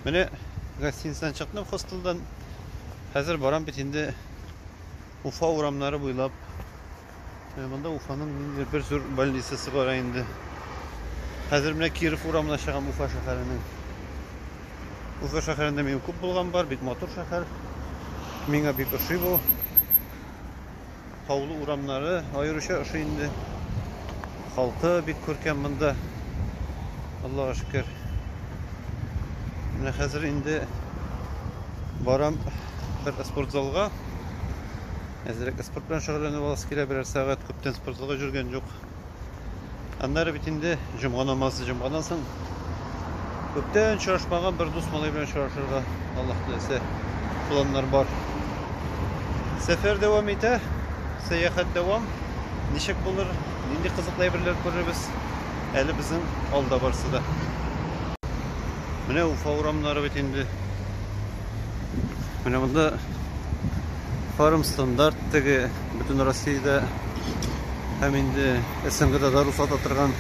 Менә гостиницадан чыктым хостелдан. Хәзер барам бит инде Уфа урамнары буйлап. Менә монда Уфаның ниндидер бер зур больницасы бар инде. Хәзер менә Киров урамына чыгам Уфа шәһәренең. Уфа шәһәрендә мин күп булган бар, бик матур шәһәр. Миңа бик ошый бу. Таулы урамнары аеруча ошый инде. Халкы бик күркәм монда. Аллага шөкер. Менә хәзер инде барам бер спортзалга. Әзрәк спорт белән шөгыльләнеп аласы килә берәр сәгать. Күптән спортзалда йөргән юк. Аннары бит инде җомга намазы җомгадан соң күптән очрашмаган бер дус малай белән очрашырга Аллаһ теләсә планнар бар. Сәфәр дәвам итә, сәяхәт дәвам. Ничек булыр, нинди кызыклы әйберләр күрербез? Әле безнең алда барсы да. Менә Уфа урамнары бит инде. Менә монда Фарм стандарт теге бөтен Россиядә һәм инде СНГда да рөхсәт атырган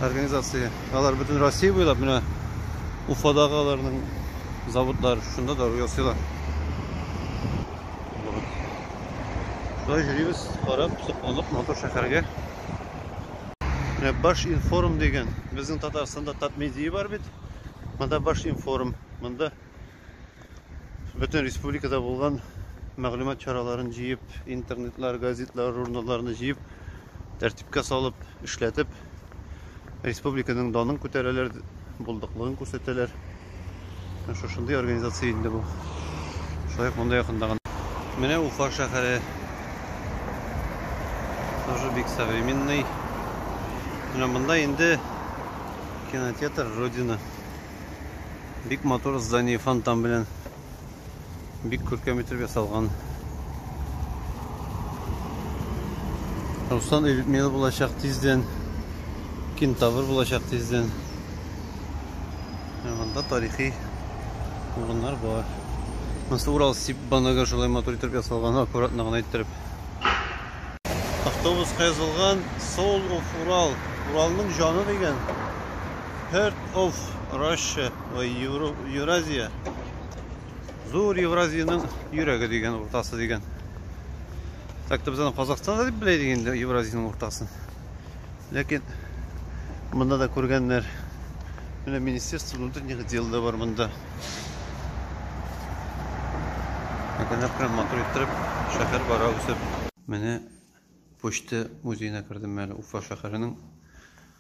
организация. Алар бөтен Россия буйлап менә Уфадагы аларның заводлар шунда дару ясыйлар. Вот. Шулай йөрибез, карап, сокланып, матур шәһәргә. Менә Баш информ дигән, безнең Татарстанда Татмедия бар бит. Монда Баш информ, монда Бөтен республикада булган мәгълүмат чараларын җыеп, интернетлар, газетлар, журналларны җыеп, тәртипкә салып, эшләтеп, республиканың данын күтәрәләр, булдыклыгын күрсәтәләр. Шушындый организация инде бу. Шулай ук монда якында гына. Менә Уфа шәһәре. Тоже бик современный. Менә монда инде кинотеатр Родина. Бик матур здание фонтан белән. Бик күркәм итеп ясалган. Руслан и Людмила булачак тиздән. Кентавр булачак тиздән. Монда тарихи урыннар бар. Монсы Урал сип банагы шулай матур итеп ясалган, аккуратно гына иттереп. Автобусқа язылган Soul of Ural. Уралның җаны дигән. Heart of Russia ой, Euro, Евразия. Зур Евразиянең йөрәге дигән уртасы дигән. Так то без аны Казахстанда дип белә идек инде Евразиянең уртасын. Ләкин монда да күргәннәр. Менә Министерство внутренних дел да бар монда. Әкренләп кенә матур иттереп шәһәр бара үсеп. Менә почта музеена кердем әле Уфа шәһәренең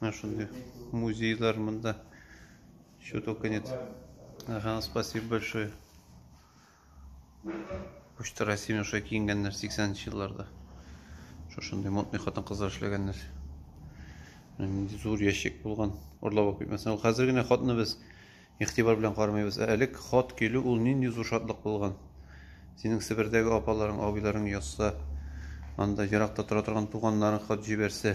Менә шундый музейлар монда. Что только нет. Ага, спасибо большое. Почта России Миша киенгәннәр 80-нче елларда. Шушындый модный хатын-кызлар эшләгәннәр. Нинди зур ящик булган. Урлап алып китмәсен. Ул хәзер генә хатны без игътибар белән кармыйбыз. Ә элек хат килү ул нинди зур шатлык булган. Синең Себердәге апаларың, абыйларың язса, анда еракта тора торган туганнарың хат җибәрсә,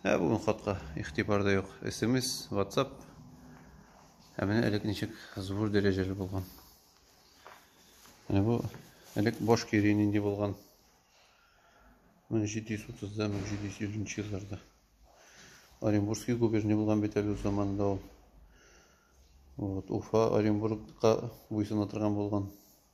Ә бүген хатка игътибар да юк. СМС, WhatsApp. Ә менә элек ничек зур дәрәҗәле булган. Менә бу элек баш кире нинди булган. 1730-да, 1750 елларда. Оренбургский губерния булган бит әле заманда ул. Вот, Уфа, Оренбургка буйсына торган булган.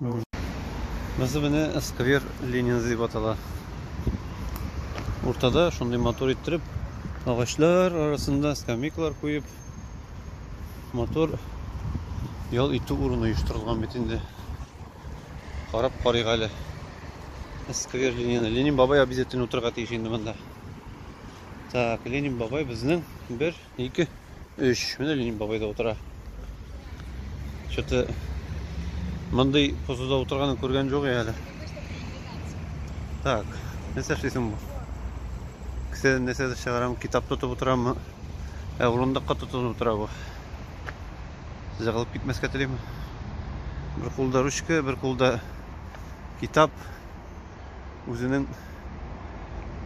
Монысы менә сквер Ленин дип атала. Уртада шундый матур иттереп, агачлар арасында скамейкалар куеп, матур ял итү урыны оештырылган бит инде. Карап карыйк әле. Сквер Ленин. Ленин бабай обязательно утырырга тиеш инде монда. Так, Ленин бабай безнең бер Ике, өч. Менә Ленин бабай да утыра. Что-то мондый позуда утырганын күргән жоқ әле. Так, нәрсә эшлисең бу? Кесә нәрсә чыгарам, китап тотып утырамы? Ә урындыкка тотынып утыра бу. Сезгә калып китмәскә телим. Бер кулда ручка, бер кулда китап. үзенең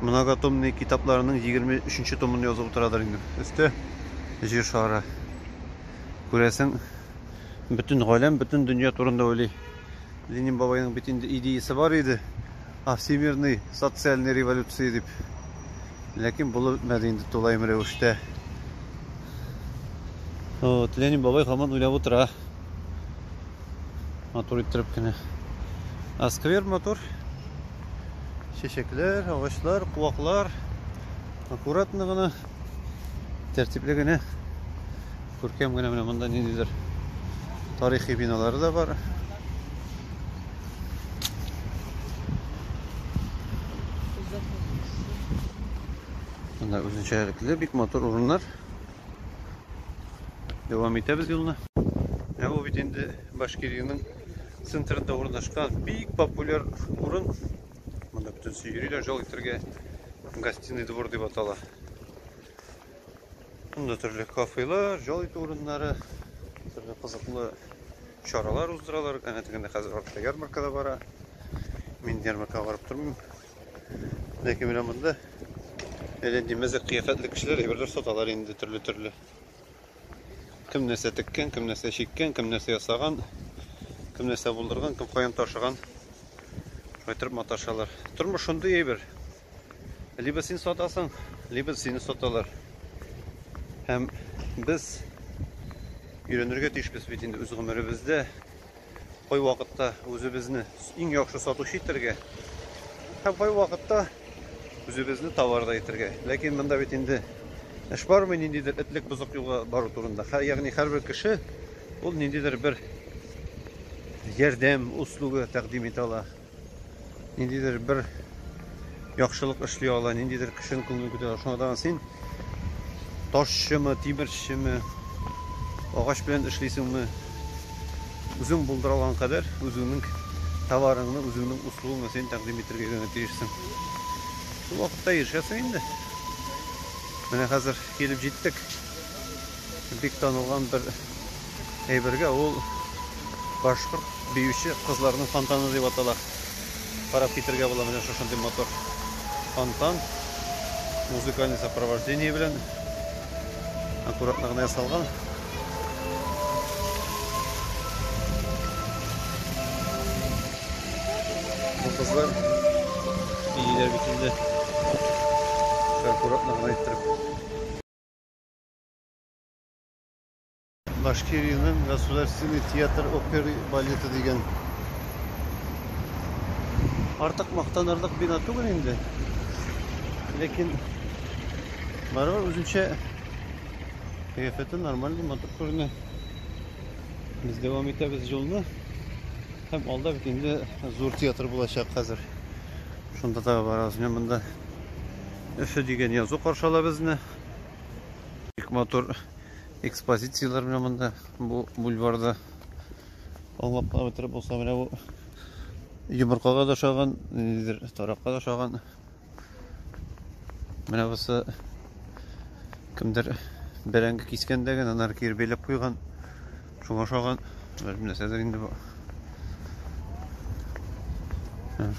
многотомный китапларының 23-нче томын язып утырадыр инде. Өсте җир шары. Күрәсең, бөтен галәм, бөтен дөнья турында уйлый. Ленин бабайның бит инде идеясе бар иде. А всемирный социальный революция дип. Ләкин булып бетмәде инде тулаем рәвештә. Вот, Ленин бабай хаман уйлап утыра. Матур иттереп кенә. А сквер матур. Чәчәкләр, агачлар, куаклар. Аккуратно гына, тәртипле генә, күркәм генә менә монда ниндидер тарихи биналары да бар. Монда үзенчәлекле бик матур урыннар. Дәвам итәбез юлны. Ә бу бит инде Башкириянең центрында урнашкан бик популяр урын. Монда бөтенесе йөриләр, жол итәргә гостиный двор дип атала. Монда төрле кафелар, жол итү урыннары, төрле кызыклы чаралар уздыралар. Әнә тегендә хәзер артта ярмарка да бара. Мин ярмаркага барып тормыйм. Ләкин менә монда әле димәзәк кыяфәтле кешеләр әйберләр саталар инде төрле-төрле. Кем нәрсә теккән, кем нәрсә чиккән, кем нәрсә ясаган, кем нәрсә булдырган, кем каян ташыган. Шайтырып маташалар. Тормыш шундый әйбер. Либо син сатасың, либо сине саталар. Һәм без өйрәнергә тиешбез бит инде үз гомеребездә Кай вакытта үзебезне иң яхшы сатучы итәргә һәм кай вакытта үзебезне товарда итәргә. Ләкин монда бит инде эш бармы ниндидер этлек бозык юлга бару турында. Ягъни һәрбер кеше ул ниндидер бер ярдәм услуга тәкъдим итә ала. Ниндидер бер яхшылык эшли ала, ниндидер кешенең күңелен күтәрә. Шуңардан син ташчымы, тимерчеме, агач белән эшлисеңме, үзең булдыра алган кадәр үзеңнең товарыңны, үзеңнең услугыңны син тәкъдим итәргә генә тиешсең. Шул вакытта ирешәсең инде. Менә хәзер килеп җиттек. Бик танылган бер әйбергә ул башкорт биюче кызларының фонтаны дип атала. Карап китергә була менә шушындый мотор фонтан музыкальный сопровождение белән аккуратно гына ясалган. Бу кызлар бииләр бит инде. Аккуратно гына иттереп. Башкириянең государственный театр опера балеты дигән. Артык мактанырлык бина түгел инде. Ләкин барыбер үзенчә кыяфәте нормальный, матур күренә. Без дәвам итәбез юлны. Һәм алда бит инде зур театр булачак хәзер. Шунда да барабыз. Менә монда Өфе дигән язу каршала безне. Бик матур экспозицияләр менә монда бу бульварда. Аңлап кына бетереп булса менә бу йомыркага да ошаган, ниндидер таракка да ошаган. Менә бусы кемдер бәрәңге кискәндә генә анар кире бәйләп куйган. Шуңа ошаган, белмим нәрсәдер инде бу.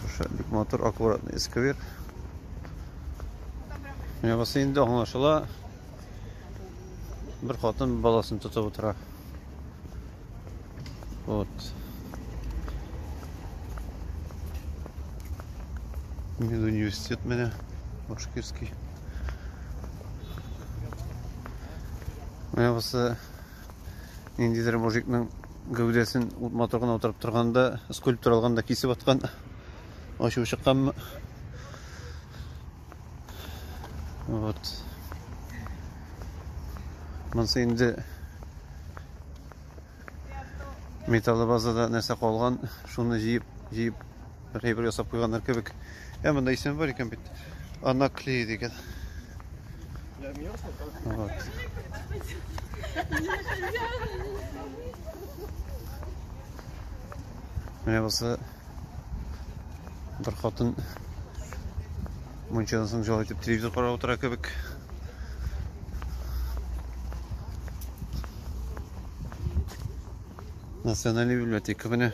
Шушы бик матур аккуратный сквер. Менә бусы инде аңлашыла. Бер хатын баласын тотып утыра. Вот. Мин университет менә Башкирский. Менә бусы Ниндидер мужикның гәүдәсен ут моторына утырып торганда, скульптор алганда кисеп аткан. Ачуы чыкканмы? Вот. Монсы инде металлы базада нәрсә калган, шуны җыеп, җыеп Гыйбр ясап куйганнар кебек. Ә монда исем бар икән бит. Анаклей дигән. Вот. Менә булса бер хатын мунчадан соң җал итеп телевизор карап утыра кебек. Национальный библиотека менә.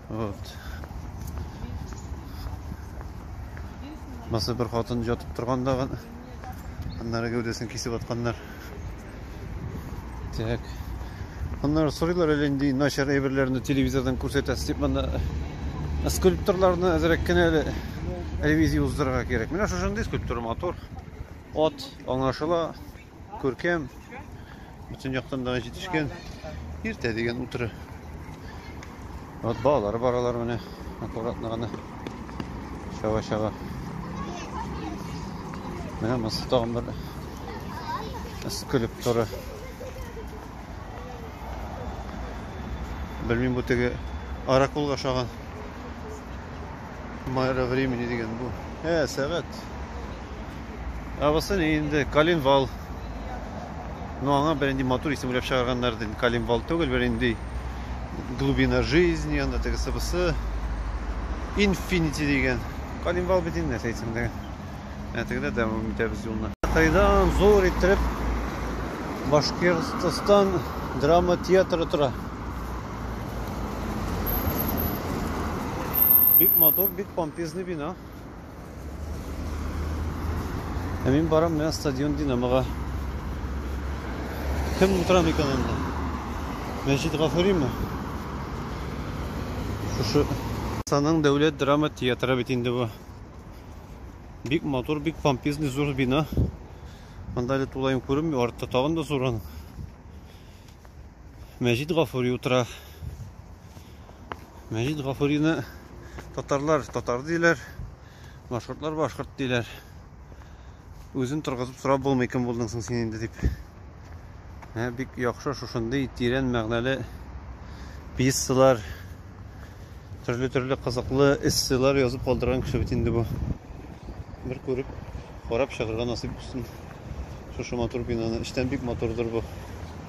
Вот. Маса бер хатын ятып торганда гын. Аннары гәүдәсен кисеп атканнар. Так. Аннары сорыйлар әле инде начар әйберләрне телевизордан күрсәтәсез дип монда скульпторларны әзрәк кенә әле ревизия уздырырга кирәк. Менә шушындый скульптура матур. От аңлашыла. Күркәм, бүтін яктан да җитешкән. Иртә дигән утыры. Вот балалары баралар менә, аккуратно гына. Чаба чаба. Менә монсы тагын бер скульптура. Белмим бу теге аракулга ошаган. Майра времени дигән бу. Ә, сәгать. Ә бусы ни инде? Калинвал. Ну, аңа бер инде матур исем уйлап чыгарганнар ди. Калинвал түгел, бер инде глубина жизни, анда тегесе бусы. Инфинити дигән. Калинвал бит инде нәрсә әйтсәң дә. Ә тегедә дәвам итәбез юлны. Кайдан зур иттереп Башкортстан драма театры тора. Бик матур, бик помпезный бина. Ә мин барам менә стадион Динамога. Кем утыра микән анда? Мәҗит Гафуриме? Шушы Саның дәүләт драма театры бит инде бу. Бик матур, бик помпезный зур бина. Анда әле тулаем күренми, артта тагын да зур аның. Мәҗит Гафури утыра. Мәҗит Гафурины татарлар татар диләр, башкортлар башкорт диләр. Үзен торгызып сорап булмый, кем булдың соң син инде дип. Ә, бик яхшы шушындый тирән мәгънәле пьесалар, төрле-төрле кызыклы эссейлар язып калдырган кеше бит инде бу. Бер күреп, карап чыгарга насыйп булсын. Шушы матур бинаны. Эчтән бик матурдыр бу.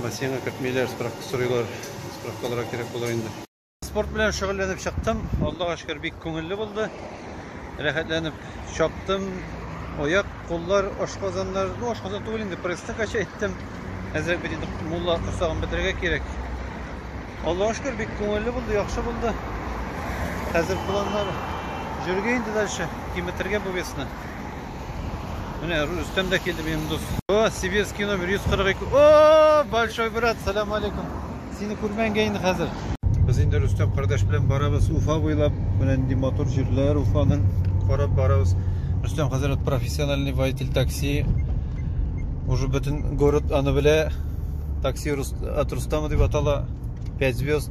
Бассейнга кертмиләр, справка сорыйлар. Справкаларга кирәк булыр инде. Спорт белән шөгыльләнеп чыктым. Аллага шөкер, бик күңелле булды. Рәхәтләнеп чаптым. Аяк, куллар, ашказаннар, ну ашказан түгел инде, пресска кача иттем. Әзрәк бит инде мулла корсагын бетерергә кирәк. Аллага шөкер, бик күңелле булды, яхшы булды. Хәзер планнар җөргә инде дальше, киметергә бу весны. Менә Рөстәм дә килде минем дус. О, сибирский номер 142. О, большой брат, салам алейкум. Сине күрмәнгә инде хәзер. Без инде Рөстәм кардәш белән барабыз Уфа буйлап. Менә нинди мотор җирләр Уфаның карап барабыз. Рөстәм хәзер профессиональный водитель такси. Уже бөтен город аны белә. Такси от Рустама дип атала. 5 звезд.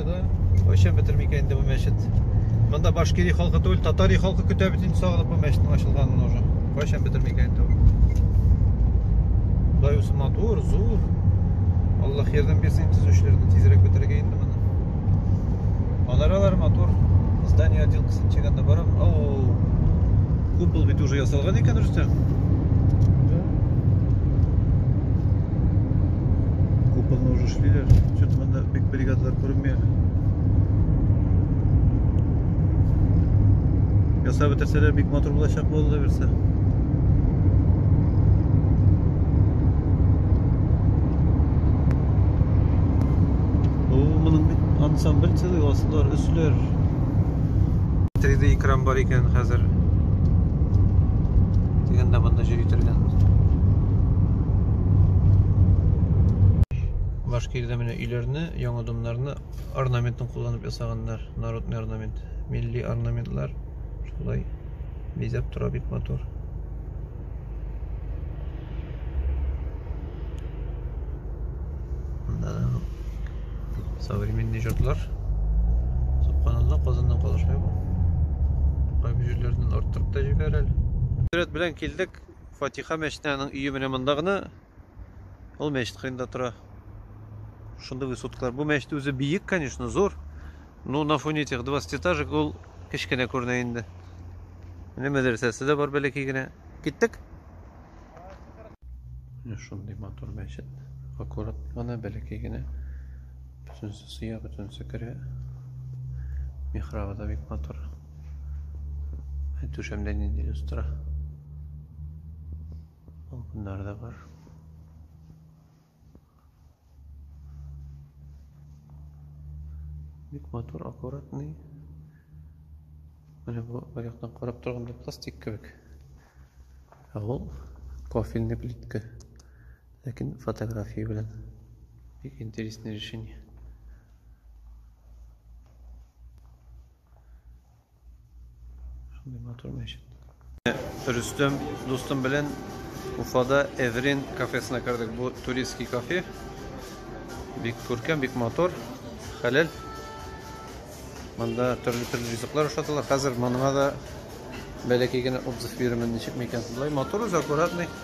Кайчан бетерер микән инде бу мәчет? Монда башкири халкы түгел, татари халкы көтә бит инде сагылып бу мәчетнең ачылганын уже. Кайчан бетерер микән инде бу? Дай усы матур, зур. Аллах ярдәм бирсен төзүчеләргә тизрәк бетерергә инде моны. Манаралар матур. Здание один кысып чигәндә барам. Ау. Купол бит уже ясалган икән, Рөстәм. Куполны уже эшлиләр. Чөт монда Бик бригадалар күренмәя. Ясап бетерсәләр бик матур булачак булды берсе. ансамбль целый осылар үсләр 3D экран бар икән хәзер дигәндә монда җөри торган Башкирдә менә өйләрне, яңа домнарны орнаментын кулланып ясаганнар. Народный орнамент. Милли орнаментлар шулай бизәп тора бик матур. Современный җортлар. Субханалла, Казаннан калышмый бу. Кайбы җирләрдән арттырып та җибәрә әле. Сәләт белән килдек. Фатиха мәчетенең өе менә монда гына. Ул мәчет кырында тора. Шундый высоткалар. Бу мәчет үзе биек, конечно, зур. Но на фоне этих 20 этажек ул кечкенә күренә инде. Менә мәдрәсәсе дә бар бәләкәй генә. Киттек. Шундый матур мәчет. Аккурат гына, бәләкәй генә. Бөтенесе сыя, бөтенесе керә. Михрабы да бик матур. Түшәмдә нинди люстра. Балконнар да бар. Бик матур, аккуратный. Менә бу бер яктан карап торганда пластик кебек. Ә ул кофельный плитка. Ләкин фотография белән. Бик интересное решение. Шундый матур мәчет. Рөстем дустым белән Уфада Эврин кафесына кердек. Бу туристский кафе. Бик күркәм, бик матур, хәләл. Монда төрле-төрле ризыклар ашаталар. Хәзер моныңа да бәләкәй генә отзыв бирермен, ничек микән шулай. Матур үзе, аккуратный.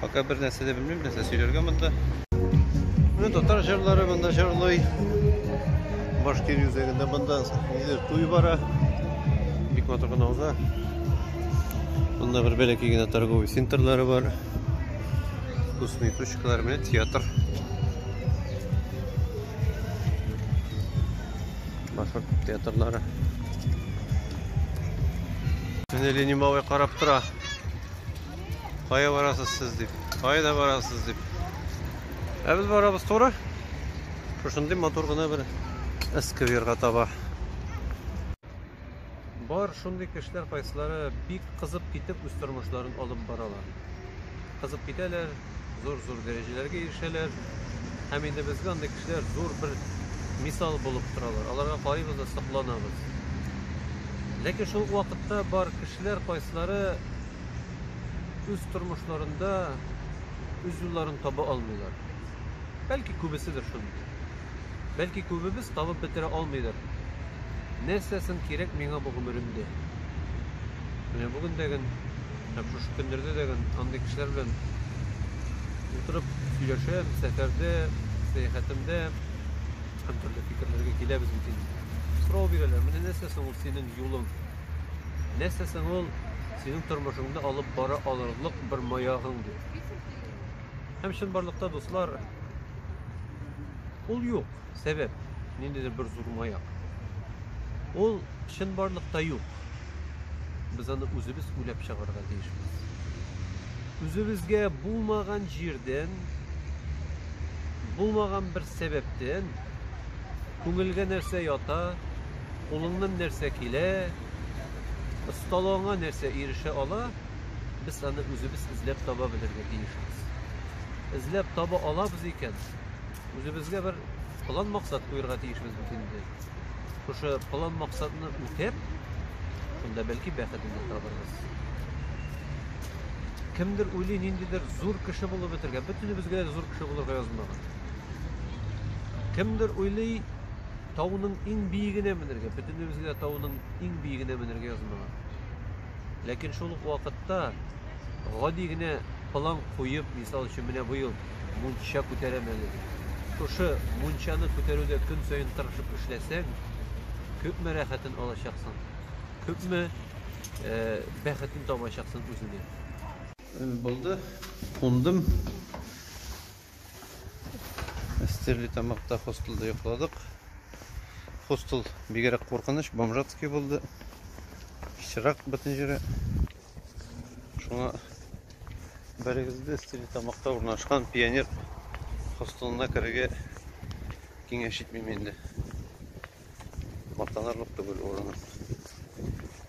Пока бер нәрсә дә белмим, нәрсә сөйләргә монда. Менә татар җырлары монда җырлый. Башкир үзәгендә монда нидер туй бара. Бик матур гына уза. Монда бер бәләкәй генә торговый центрлары бар. Вкусные точкалар, менә театр. Башкорт театрлары. Менә Ленимовый карап тора. Кая барасыз сез дип. Кая да барасыз дип. Ә без барабыз туры. Шушындый матур гына бер эскверга таба. Бар шундый кешеләр кайсылары бик кызып китеп үз тормышларын алып баралар. Кызып китәләр, зур-зур дәрәҗәләргә ирешәләр. Һәм инде безгә андый кешеләр зур бер мисал булып торалар. Аларга карыйбыз да сокланабыз. Ләкин шул вакытта бар кешеләр кайсылары үз тормышларында үз юлларын таба алмыйлар. Бәлки күбеседер шундый. Бәлки күбебез табып бетерә алмыйдыр. Нәрсәсен кирәк миңа бу гомеремдә? Менә бүгендәген Һәм шушы көннәрдә дә андый кешеләр белән утырып сөйләшәбез, сәфәрдә, сәяхәтемдә һәм төрле фикерләргә киләбез бит инде. Сорау бирәләр, менә нәрсә соң ул синең юлың? Нәрсә соң ул синең тормышыңны алып бара алырлык бер маягың дип. Һәм чынбарлыкта, дуслар, ул юк. Сәбәп, ниндидер бер зур маяк. Ул чынбарлыкта юк. Без аны үзебез уйлап чыгарга тиешбез. Үзебезгә булмаган җирдән, булмаган бер сәбәптән күңелгә нәрсә ята, кулыңнан нәрсә килә, осталыгыңа нәрсә ирешә ала, без аны үзебез эзләп таба белергә тиешбез. Эзләп таба алабыз икән, Үзебезгә бер план максат куярга тиешбез бит инде. Шушы план максатны үтәп, шунда бәлки бәхетне табарбыз. Кемдер уйлый ниндидер зур кеше булып бетергә, бөтенебезгә дә зур кеше булырга язмаган. Кемдер уйлый тауның иң биегенә менергә, бөтенебезгә дә тауның иң биегенә менергә язмаган. Ләкин шул ук вакытта гади генә план куеп, мисал өчен, менә бу ел мунча күтәрәм әле дип. Шушы мунчаны күтәрүдә көн саен тырышып эшләсәң, күпме рәхәтен алачаксың, күпме э, бәхетен табачаксың үзеңә. Булды, кундым. Стерлитамакта хостелда йокладык. Хостел бигерәк куркыныч, бомжатский булды. Пычрак бөтен җире. Шуңа бәрегезде Стерлитамакта урнашкан пионер хостелына керергә киңәш итмим инде. Мактанырлык түгел урыны.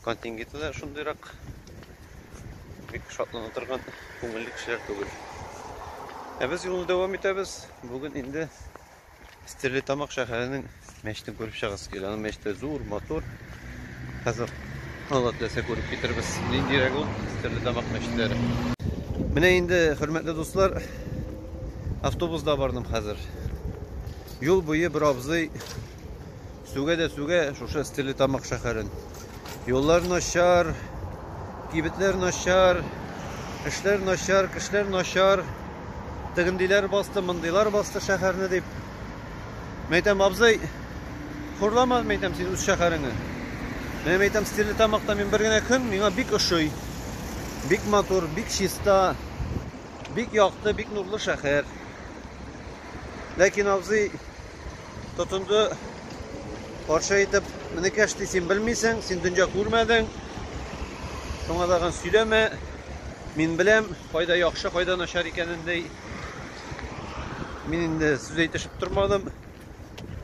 Контингенты да шундыйрак бик шатлана торган күңелле кешеләр түгел. Ә без юлны дәвам итәбез. Бүген инде Стерлитамак шәһәренең мәчетен күреп чыгасы килә. Аның мәчете зур, матур. Хәзер Алла теләсә күреп китербез. Ниндирәк ул Стерлитамак мәчетләре. Менә инде, хөрмәтле дуслар, автобусда бардым хәзер. Юл буе бер абзый сүгә дә сүгә шушы Стерлитамак шәһәрен. Юллар начар, кибетләр начар, эшләр начар, кешеләр начар. Тегендиләр басты, мондыйлар басты шәһәрне дип. Мәйтәм абзый, хурлама мәйтәм син үз шәһәреңне. Менә мәйтәм Стерлитамакта мин бер генә көн миңа бик ошый. Бик матур, бик чиста, бик якты, бик нурлы шәһәр. Ләкин абзый Тотынды каршы итеп, Минекәш ди, син белмисең, син дөнья күрмәдең. Шуңа тагын сөйләмә. Мин беләм, кайда яхшы, кайда начар икәнен ди. Мин инде сүз әйтешеп тормадым.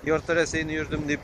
Ярты Рәсәйне йөрдем дип.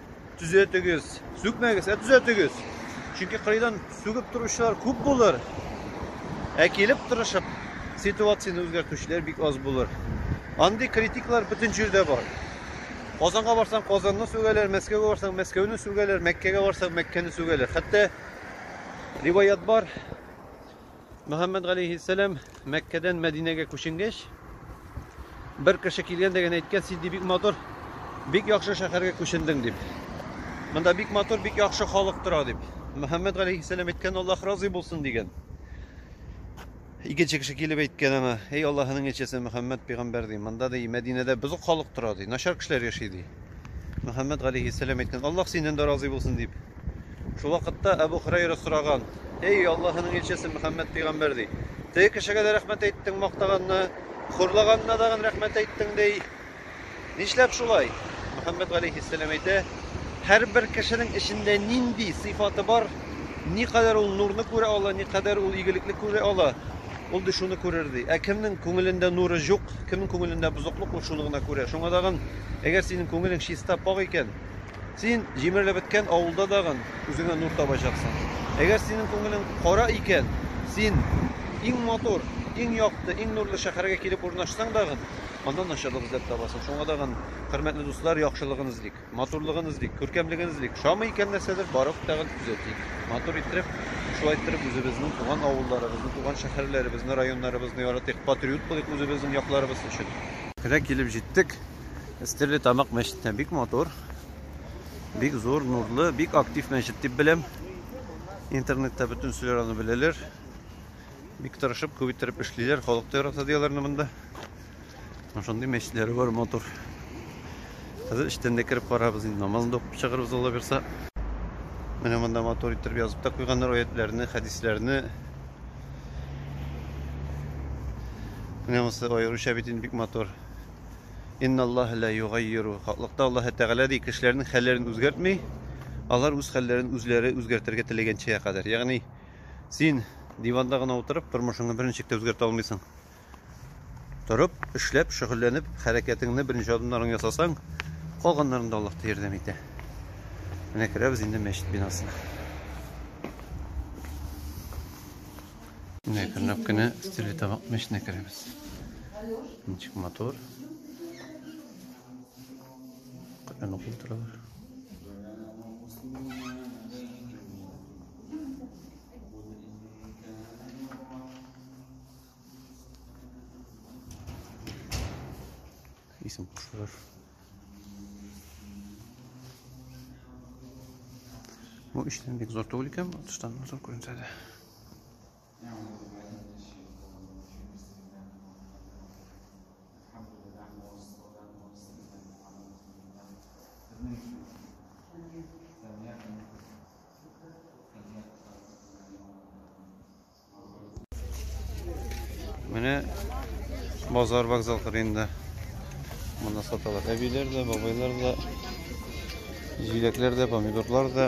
Төзәтегез, сүкмәгез, ә төзәтегез. Чөнки кырыйдан сүгеп торучылар күп булыр. Ә килеп тырышып ситуацияне үзгәртүчеләр бик аз булыр. Андый критиклар бөтен җирдә бар. Казанга барсаң, Казанны сүгәләр, Мәскәүгә барсаң, Мәскәүне сүгәләр, Мәккәгә барсаң, Мәккәне сүгәләр. Хәтта риваят бар, Мөхәммәд галәйһиссәлам Мәккәдән Мәдинәгә күченгәч, бер кеше килгән дә генә әйткән, син ди бик матур, бик яхшы шәһәргә күчендең дип. Монда бик матур, бик яхшы халык тора дип. Мөхәммәд галәйһиссәлам әйткән, Аллаһ разый булсын дигән. Икенче кеше килеп әйткән аңа, эй Аллаһының илчесе Мөхәммәд пәйгамбәр ди, монда ди Мәдинәдә бозык халык тора ди, начар кешеләр яши ди. Мөхәммәд галәйһиссәлам әйткән, Аллаһ синнән дә разый булсын дип. Шул вакытта Әбу Хөрәйрә сораган, Эй, Аллаһының илчесе Мөхәммәд пәйгамбәр ди, теге кешегә дә рәхмәт әйттең, мактаганны, хурлаганына дагын рәхмәт әйттең ди. Нишләп шулай? Мөхәммәд галәйһиссәлам әйтә, һәрбер кешенең эчендә нинди сыйфаты бар, никадәр ул нурны күрә ала, никадәр ул игелекле күрә ала, ул ди шуны күрер ди. Ә кемнең күңелендә нуры юк, кемнең күңелендә бозыклык, ул шуны гына күрә. Шуңа дагын, әгәр синең күңелең чиста, пакь икән, Син җимерелеп беткән авылда тагын үзеңә нур табачаксың. Әгәр синең күңелең кара икән, син иң матур, иң якты, иң нурлы шәһәргә килеп урнашсаң тагын, анда начарлык эзләп табасың. Шуңа тагын, хөрмәтле дуслар, яхшылыгын эзлик, матурлыгын эзлик, күркәмлеген эзлик. Ошамый икән нәрсәдер, барып тагын төзәтик. Матур иттереп, шулай иттереп үзебезнең туган авылларыбызны, туган шәһәрләребезне, районнарыбызны яратыйк, патриот булыйк үзебезнең якларыбыз өчен. Менә килеп җиттек, Стерле тамак мәчетенә бик матур, бик зур, нурлы, бик актив мәчет дип беләм. Интернетта бөтен сүләр аны беләләр. Бик тырышып, күп иттереп эшлиләр, халык та ярата дияләрне монда. Шундый мәчетләре бар матур. Хәзер эчтән дә кереп карабыз инде, намазны да укып чыгарбыз Алла бирса. Менә монда матур иттереп язып та куйганнар аятьләрне, хәдисләрне. Менә монысы аеруча бит инде бик матур. Инналлаһа лә йогаййиру хаклыкта Аллаһы Тәгалә ди, кешеләрнең хәлләрен үзгәртми, алар үз хәлләрен үзләре үзгәртергә теләгәнчегә кадәр. Ягъни, син диванда гына утырып, тормышыңны бер ничек тә үзгәртә алмыйсың. Торып, эшләп, шөгыльләнеп, хәрәкәтеңне, беренче адымнарыңны ясасаң, калганнарында Аллаһ та ярдәм итә. Менә керәбез инде мәчет бинасына. Менә әкренләп кенә стиле табак мәченә керәбез. Ничек мотор. Каян укып торалар. Исем кушалар. Бу эштән бик зур түгел икән, тыштан зур күренсә дә. Менә базар вокзал кырында. Монда саталар. Әбиләр дә, бабайлар да, җиләкләр дә, помидорлар да.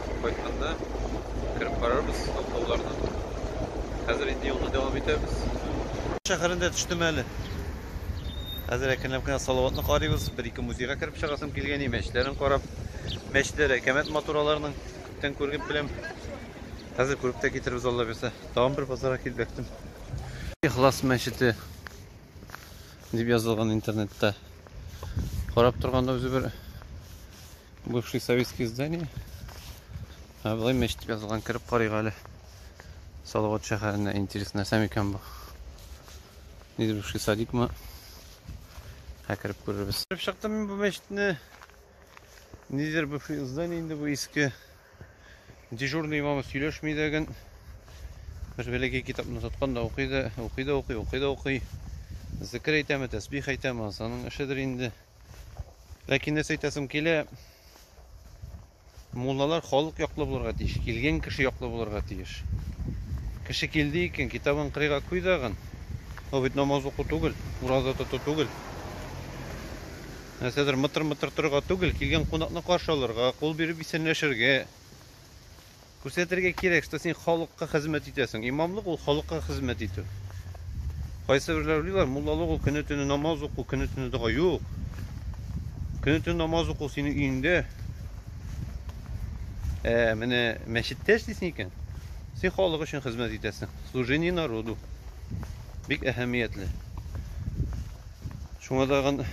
кайтканда кереп карарбыз аңлауларына. Хәзер инде юлны дәвам итәбез. Шәһәрендә төштем әле. Хәзер әкренләп кенә Салаватны карыйбыз. Бер-ике музейга кереп чыгасым килгән, мәчетләрен карап. Мәчетләр әкәмәт матур аларның. Күптән күргеп беләм. Хәзер күреп тә китербез Алла бирсә. Тагын бер базарга килеп бәктем. Ихлас мәчете дип язылган интернетта. Карап торганда үзе бер Бывший советский здание. Ә былай мәчет язылган кереп карыйк әле. Салават шәһәренә интересно нәрсә микән бу? Низ бывший садикмы? Ә кереп күрербез. Кереп чыктым мин бу мәчетне. Нидер бывший здание инде бу иске. Дежурный имамы сөйләшми дә ген. Бер бәләкәй китапны тоткан да укый да, укый да укый, укый да укый. Зикер әйтәме, тәсбих әйтәме, азаның эшедер инде. Ләкин нәрсә әйтәсем килә, муллалар халык яклы булырга тиеш, килгән кеше яклы булырга тиеш. Кеше килде икән, китабын кырыйга куй дагын. Ул бит намаз уку түгел, ураза тоту түгел. Нәрсәдер мытыр-мытыр торырга түгел, килгән кунакны каршы алырга, кул биреп исәнләшергә. Күрсәтергә кирәк, что син халыкка хезмәт итәсең. Имамлык ул халыкка хезмәт итү. Кайсыберләр уйлыйлар, муллалык ул көне-төне намаз уку, көне-төне дога. Юк. Көне-төне намаз уку синең өеңдә. Ә менә мәчеттә эшлисең икән, син халык өчен хезмәт итәсең. Служение народу. Бик әһәмиятле. Шуңа тагын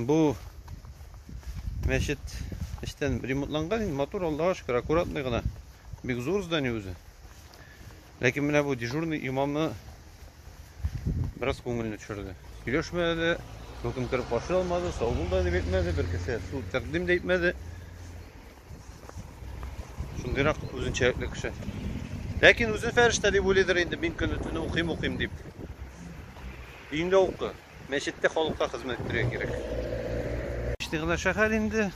бу Мәчет эчтән ремонтланган, инде матур, Аллага шөкер, аккуратный гына. Бик зур здание үзе. Ләкин менә бу дежурный имамны бераз күңелне төшерде. Сөйләшмәде, хөкем кереп каршы алмады, сау бул да дип әйтмәде, бер кеше су тәкъдим дә итмәде. Шундыйрак үзенчәлекле кеше. Ләкин үзе фәрештә дип уйлыйдыр инде, мин көне-төне укыйм, укыйм дип. Өендә укы. Мәчеттә халыкка хезмәт итәргә кирәк. Эчте генә шәһәр инде.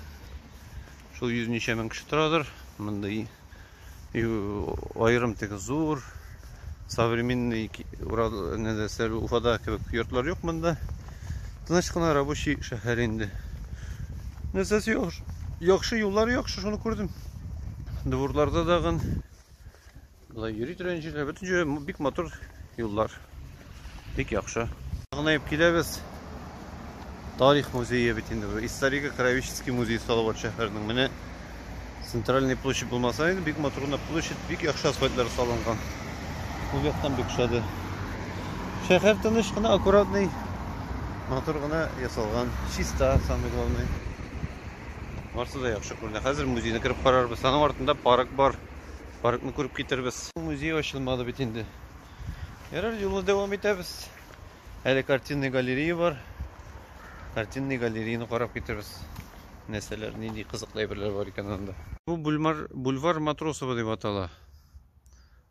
Шул йөз ничә мең кеше торадыр. Мондый аерым теге зур современный нәрсәле Уфада кебек йортлар юк монда. Тыныч кына рабочий шәһәр инде. Нәрсәсе яхшы, яхшы юллар яхшы, шуны күрдем. Дворларда дагын Болай йөри торган җирләр, бөтен җире бик матур юллар. Бик яхшы. Гынаеп киләбез. Тарих музее бит инде бу. Историко-краеведческий музей сталы бар шәһәрнең. Менә центральный площадь булмаса инде бик матур гына площадь, бик яхшы асфальтлар салынган. Ул яктан бик шады. Шәһәр тыныч кына, аккуратный, матур гына ясалган. Чиста, самый главный. Барсы да яхшы күренә. Хәзер музейны кереп карарбыз. Аның артында парк бар. паркны күреп китербез. Музей ачылмады бит инде. Ярар, юлны дәвам итәбез. Әле картинный галерея бар. Картинный галереяны карап китербез. Нәрсәләр, нинди кызыклы әйберләр бар икән анда. Бу бульвар, бульвар Матросова дип атала.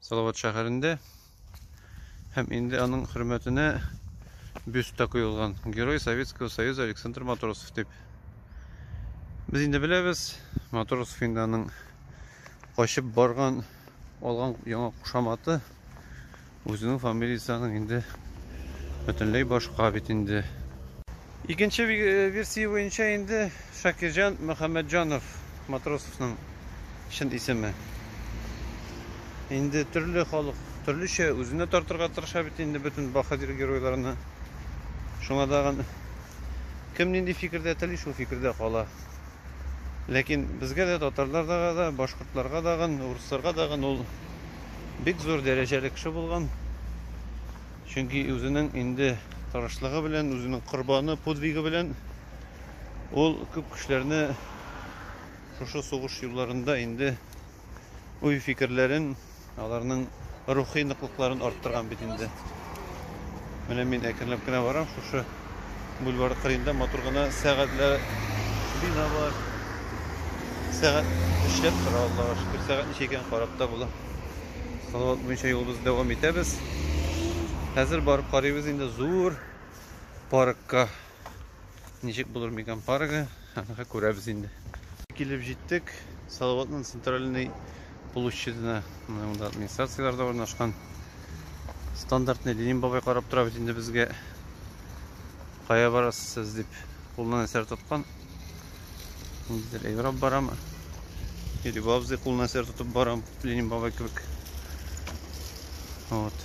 Салават шәһәрендә. Һәм инде аның хөрмәтенә бюст та куелган. Герой Советского Союза Александр Матросов дип. Без инде беләбез, Матросов инде аның качып барган, алган яңа кушаматы үзенең фамилиясенең инде бөтенләй башка бит инде. Икенче версия буенча инде Шакирҗан Мөхәммәтҗанов Матросовның чын исеме. Инде төрле халык төрлечә үзенә тартырга тырыша бит инде бөтен баһадир геройларны. Шуңа дагын кем нинди фикердә тели, шул фикердә кала. Ләкин безгә дә татарларга да, башкортларга дагын, урысларга дагын ул бик зур дәрәҗәле кеше булган. Чөнки үзенең инде тырышлыгы белән, үзенең корбаны, подвигы белән ул күп кешеләрне шушы сугыш юлларында инде уй-фикерләрен, аларның рухи ныклыкларын арттырган бит инде. Менә мин әкренләп кенә барам, шушы бульвар кырыенда матур гына сәгатьләр бина бар. Сәгать эшләп тора, Аллага шөкер. Сәгать ничә икән карап та була. Салават буенча юлыбызны дәвам итәбез. Хәзер барып карыйбыз инде зур паркка. Ничек булыр микән паргы? Аны күрәбез инде. Килеп җиттек Салаватның центральный площадена. Монда администрацияләр дә урнашкан. Стандартный Ленин бабай карап тора бит инде безгә. Кая барасыз сез дип кулына әсәр тоткан. Низдер әйбрап барамы? Йөриб абзый кулына сер тотып барам, Ленин бабай кебек. Вот.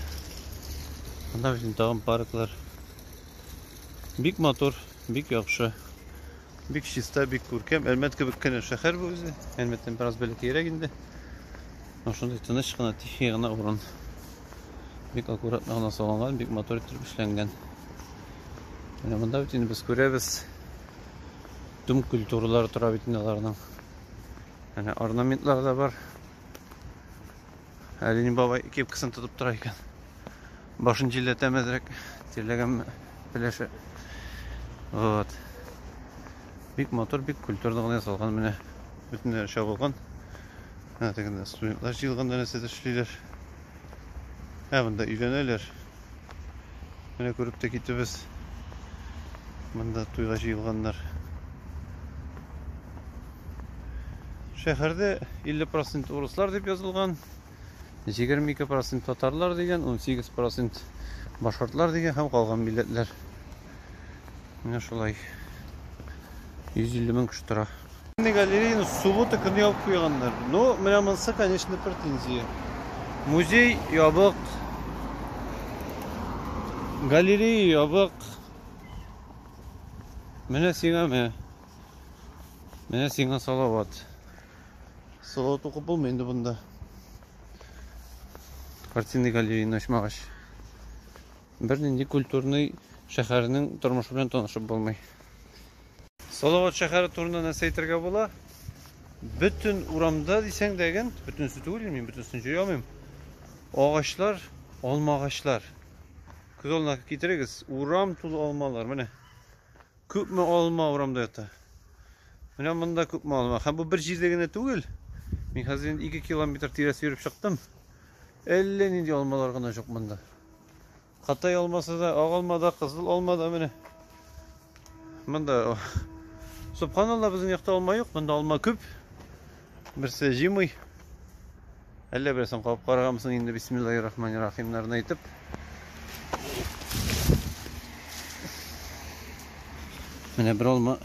Анда безнең тагын парклар. Бик матур, бик яхшы. Бик чиста, бик күркәм. Әлмәт кебек кенә шәһәр бу үзе. Әлмәттән бераз бәләкәйрәк инде. Менә шундый тыныч кына, тихий гына урын. Бик аккуратно гына салынган, бик матур итеп эшләнгән. Менә монда бит инде без күрәбез. Дум культуралары тора бит инде аларның. Менә орнаментлар да бар. Әле ни бабай кепкасын тотып тора икән. Башын җилләтәме әзрәк, тирләгәнме беләшә. Вот. Бик матур, бик культурно гына ясалган менә. Бөтенләре чабылган. Ә тегендә студентлар җыелганда нәрсәдер эшлиләр. Ә монда өйләнәләр. Менә күреп тә китебез. Монда туйга җыелганнар. Шәһәрдә 50% урыслар дип язылган. 22% татарлар дигән, 18% башкортлар дигән һәм калган милләтләр. Менә шулай. 150 мең кеше тора. Галереяны суббота көне ябып куйганнар. Ну, менә монсы, конечно, претензия. Музей ябык. Галерея ябык. Менә сиңа менә. Менә сиңа салават. Салават укып булмый инде бунда. Картинный галереяны ачмагач. Бернинди культурный шәһәрнең тормышы белән танышып булмый. Салават шәһәре турында нәрсә әйтергә була? Бөтен урамда дисәң дә гел, бөтенесе түгел, мин бөтенесен җыя алмыйм. Агачлар, алма агачлар. Күз алдына китерегез, урам тулы алмалар, менә. Күпме алма урамда ята? Менә монда күпме алма. Һәм бу бер җирдә генә түгел. Мин хәзер инде 2 километр тирәсе йөреп чыктым. Әллә нинди алмалар гына юк монда. Кытай алмасы да, ак алма да, кызыл алма да менә. Монда Субханалла, безнең якта алма юк, монда алма күп. Берсе җимый. Әллә берсен кабып караганмын инде бисмиллахи рахмани рахимнарын әйтеп. Менә бер алма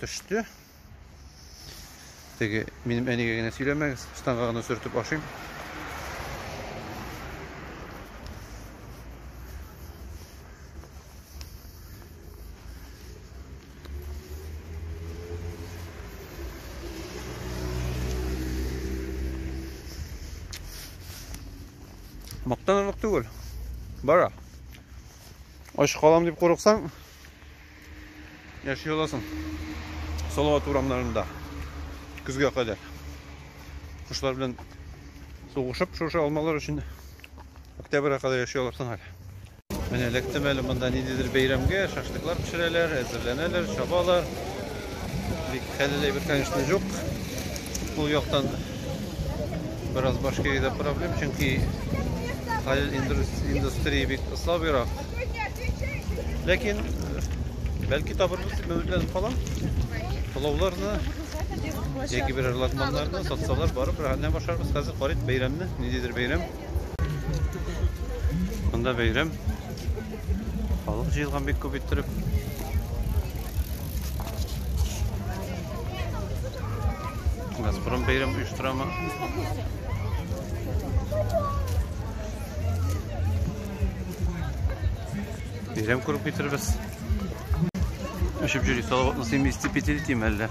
төште. Теге минем әнигә генә сөйләмәгез, штанга гына сөртеп ашыйм. Мактанырлык түгел. Бара. Ач калам дип курыксаң, яши аласың. Салават урамнарында көзгә кадәр кошлар белән сугышып шушы алмалар өчен октябрьгә кадәр яши аласың әле Менә эләктем әле монда ниндидер бәйрәмгә, шашлыклар пешерәләр, әзерләнәләр, чабалар. Бик хәлле әйбер, конечно, юк. Бу яктан бераз Башкириядә проблем, чөнки хәлел индустрия бик слабыйрак. Ләкин бәлки табырбыз дип өметләнеп калам. Пылауларны яки берәр латманнарны сатсалар барып, рәхәтләнеп ашарбыз. Хәзер карыйк бәйрәмне, ниндидер бәйрәм. Монда бәйрәм. Халык җыелган бик күп иттереп. Газпром бәйрәм оештырамы? Бәйрәм күреп китербез. Өшеп йөри, салаватны сыймый истип ителитим әллә.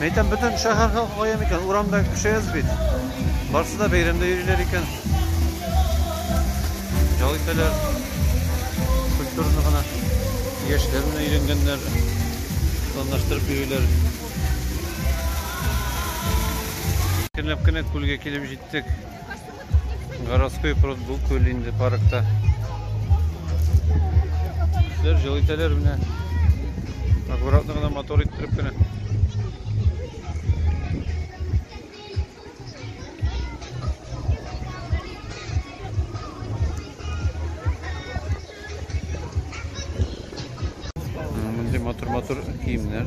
Мәйтәм, бөтен шәһәр халкы кая микән? Урамда кеше әз бит. Барсы да бәйрәмдә йөриләр икән. Ял итәләр. Культурны гына яшьләр менә өйрәнгәннәр. Планлаштырып йөриләр. Көнләп кенә күлгә килеп җиттек. Городской пруд бу күл инде паркта. Кешеләр җыл итәләр менә. Аккуратно гына мотор иттереп кенә. Мондый матур-матур киемнәр.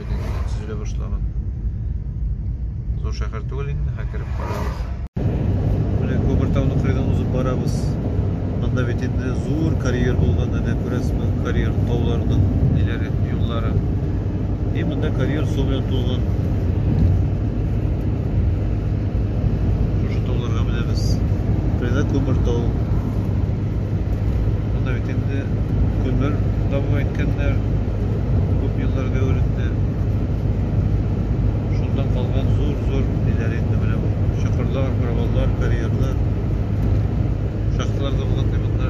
Төзелә башлаган. Зур шәһәр түгел инде, һәм кереп карабыз. Менә Күбертауны кырыйдан узып барабыз. Монда бит инде зур карьер булган, әнә күрәсезме, карьер тауларның ниләре, юллары. И монда карьер су белән тулган. Шушы тауларга менәбез. Кырыйда Күбертау. инде көмер табу әйткәннәр күп елларга әверелде шунда калган зур зур ниләр инде менә бу чокырлар проваллар карьерлар шахталар да булган ди монда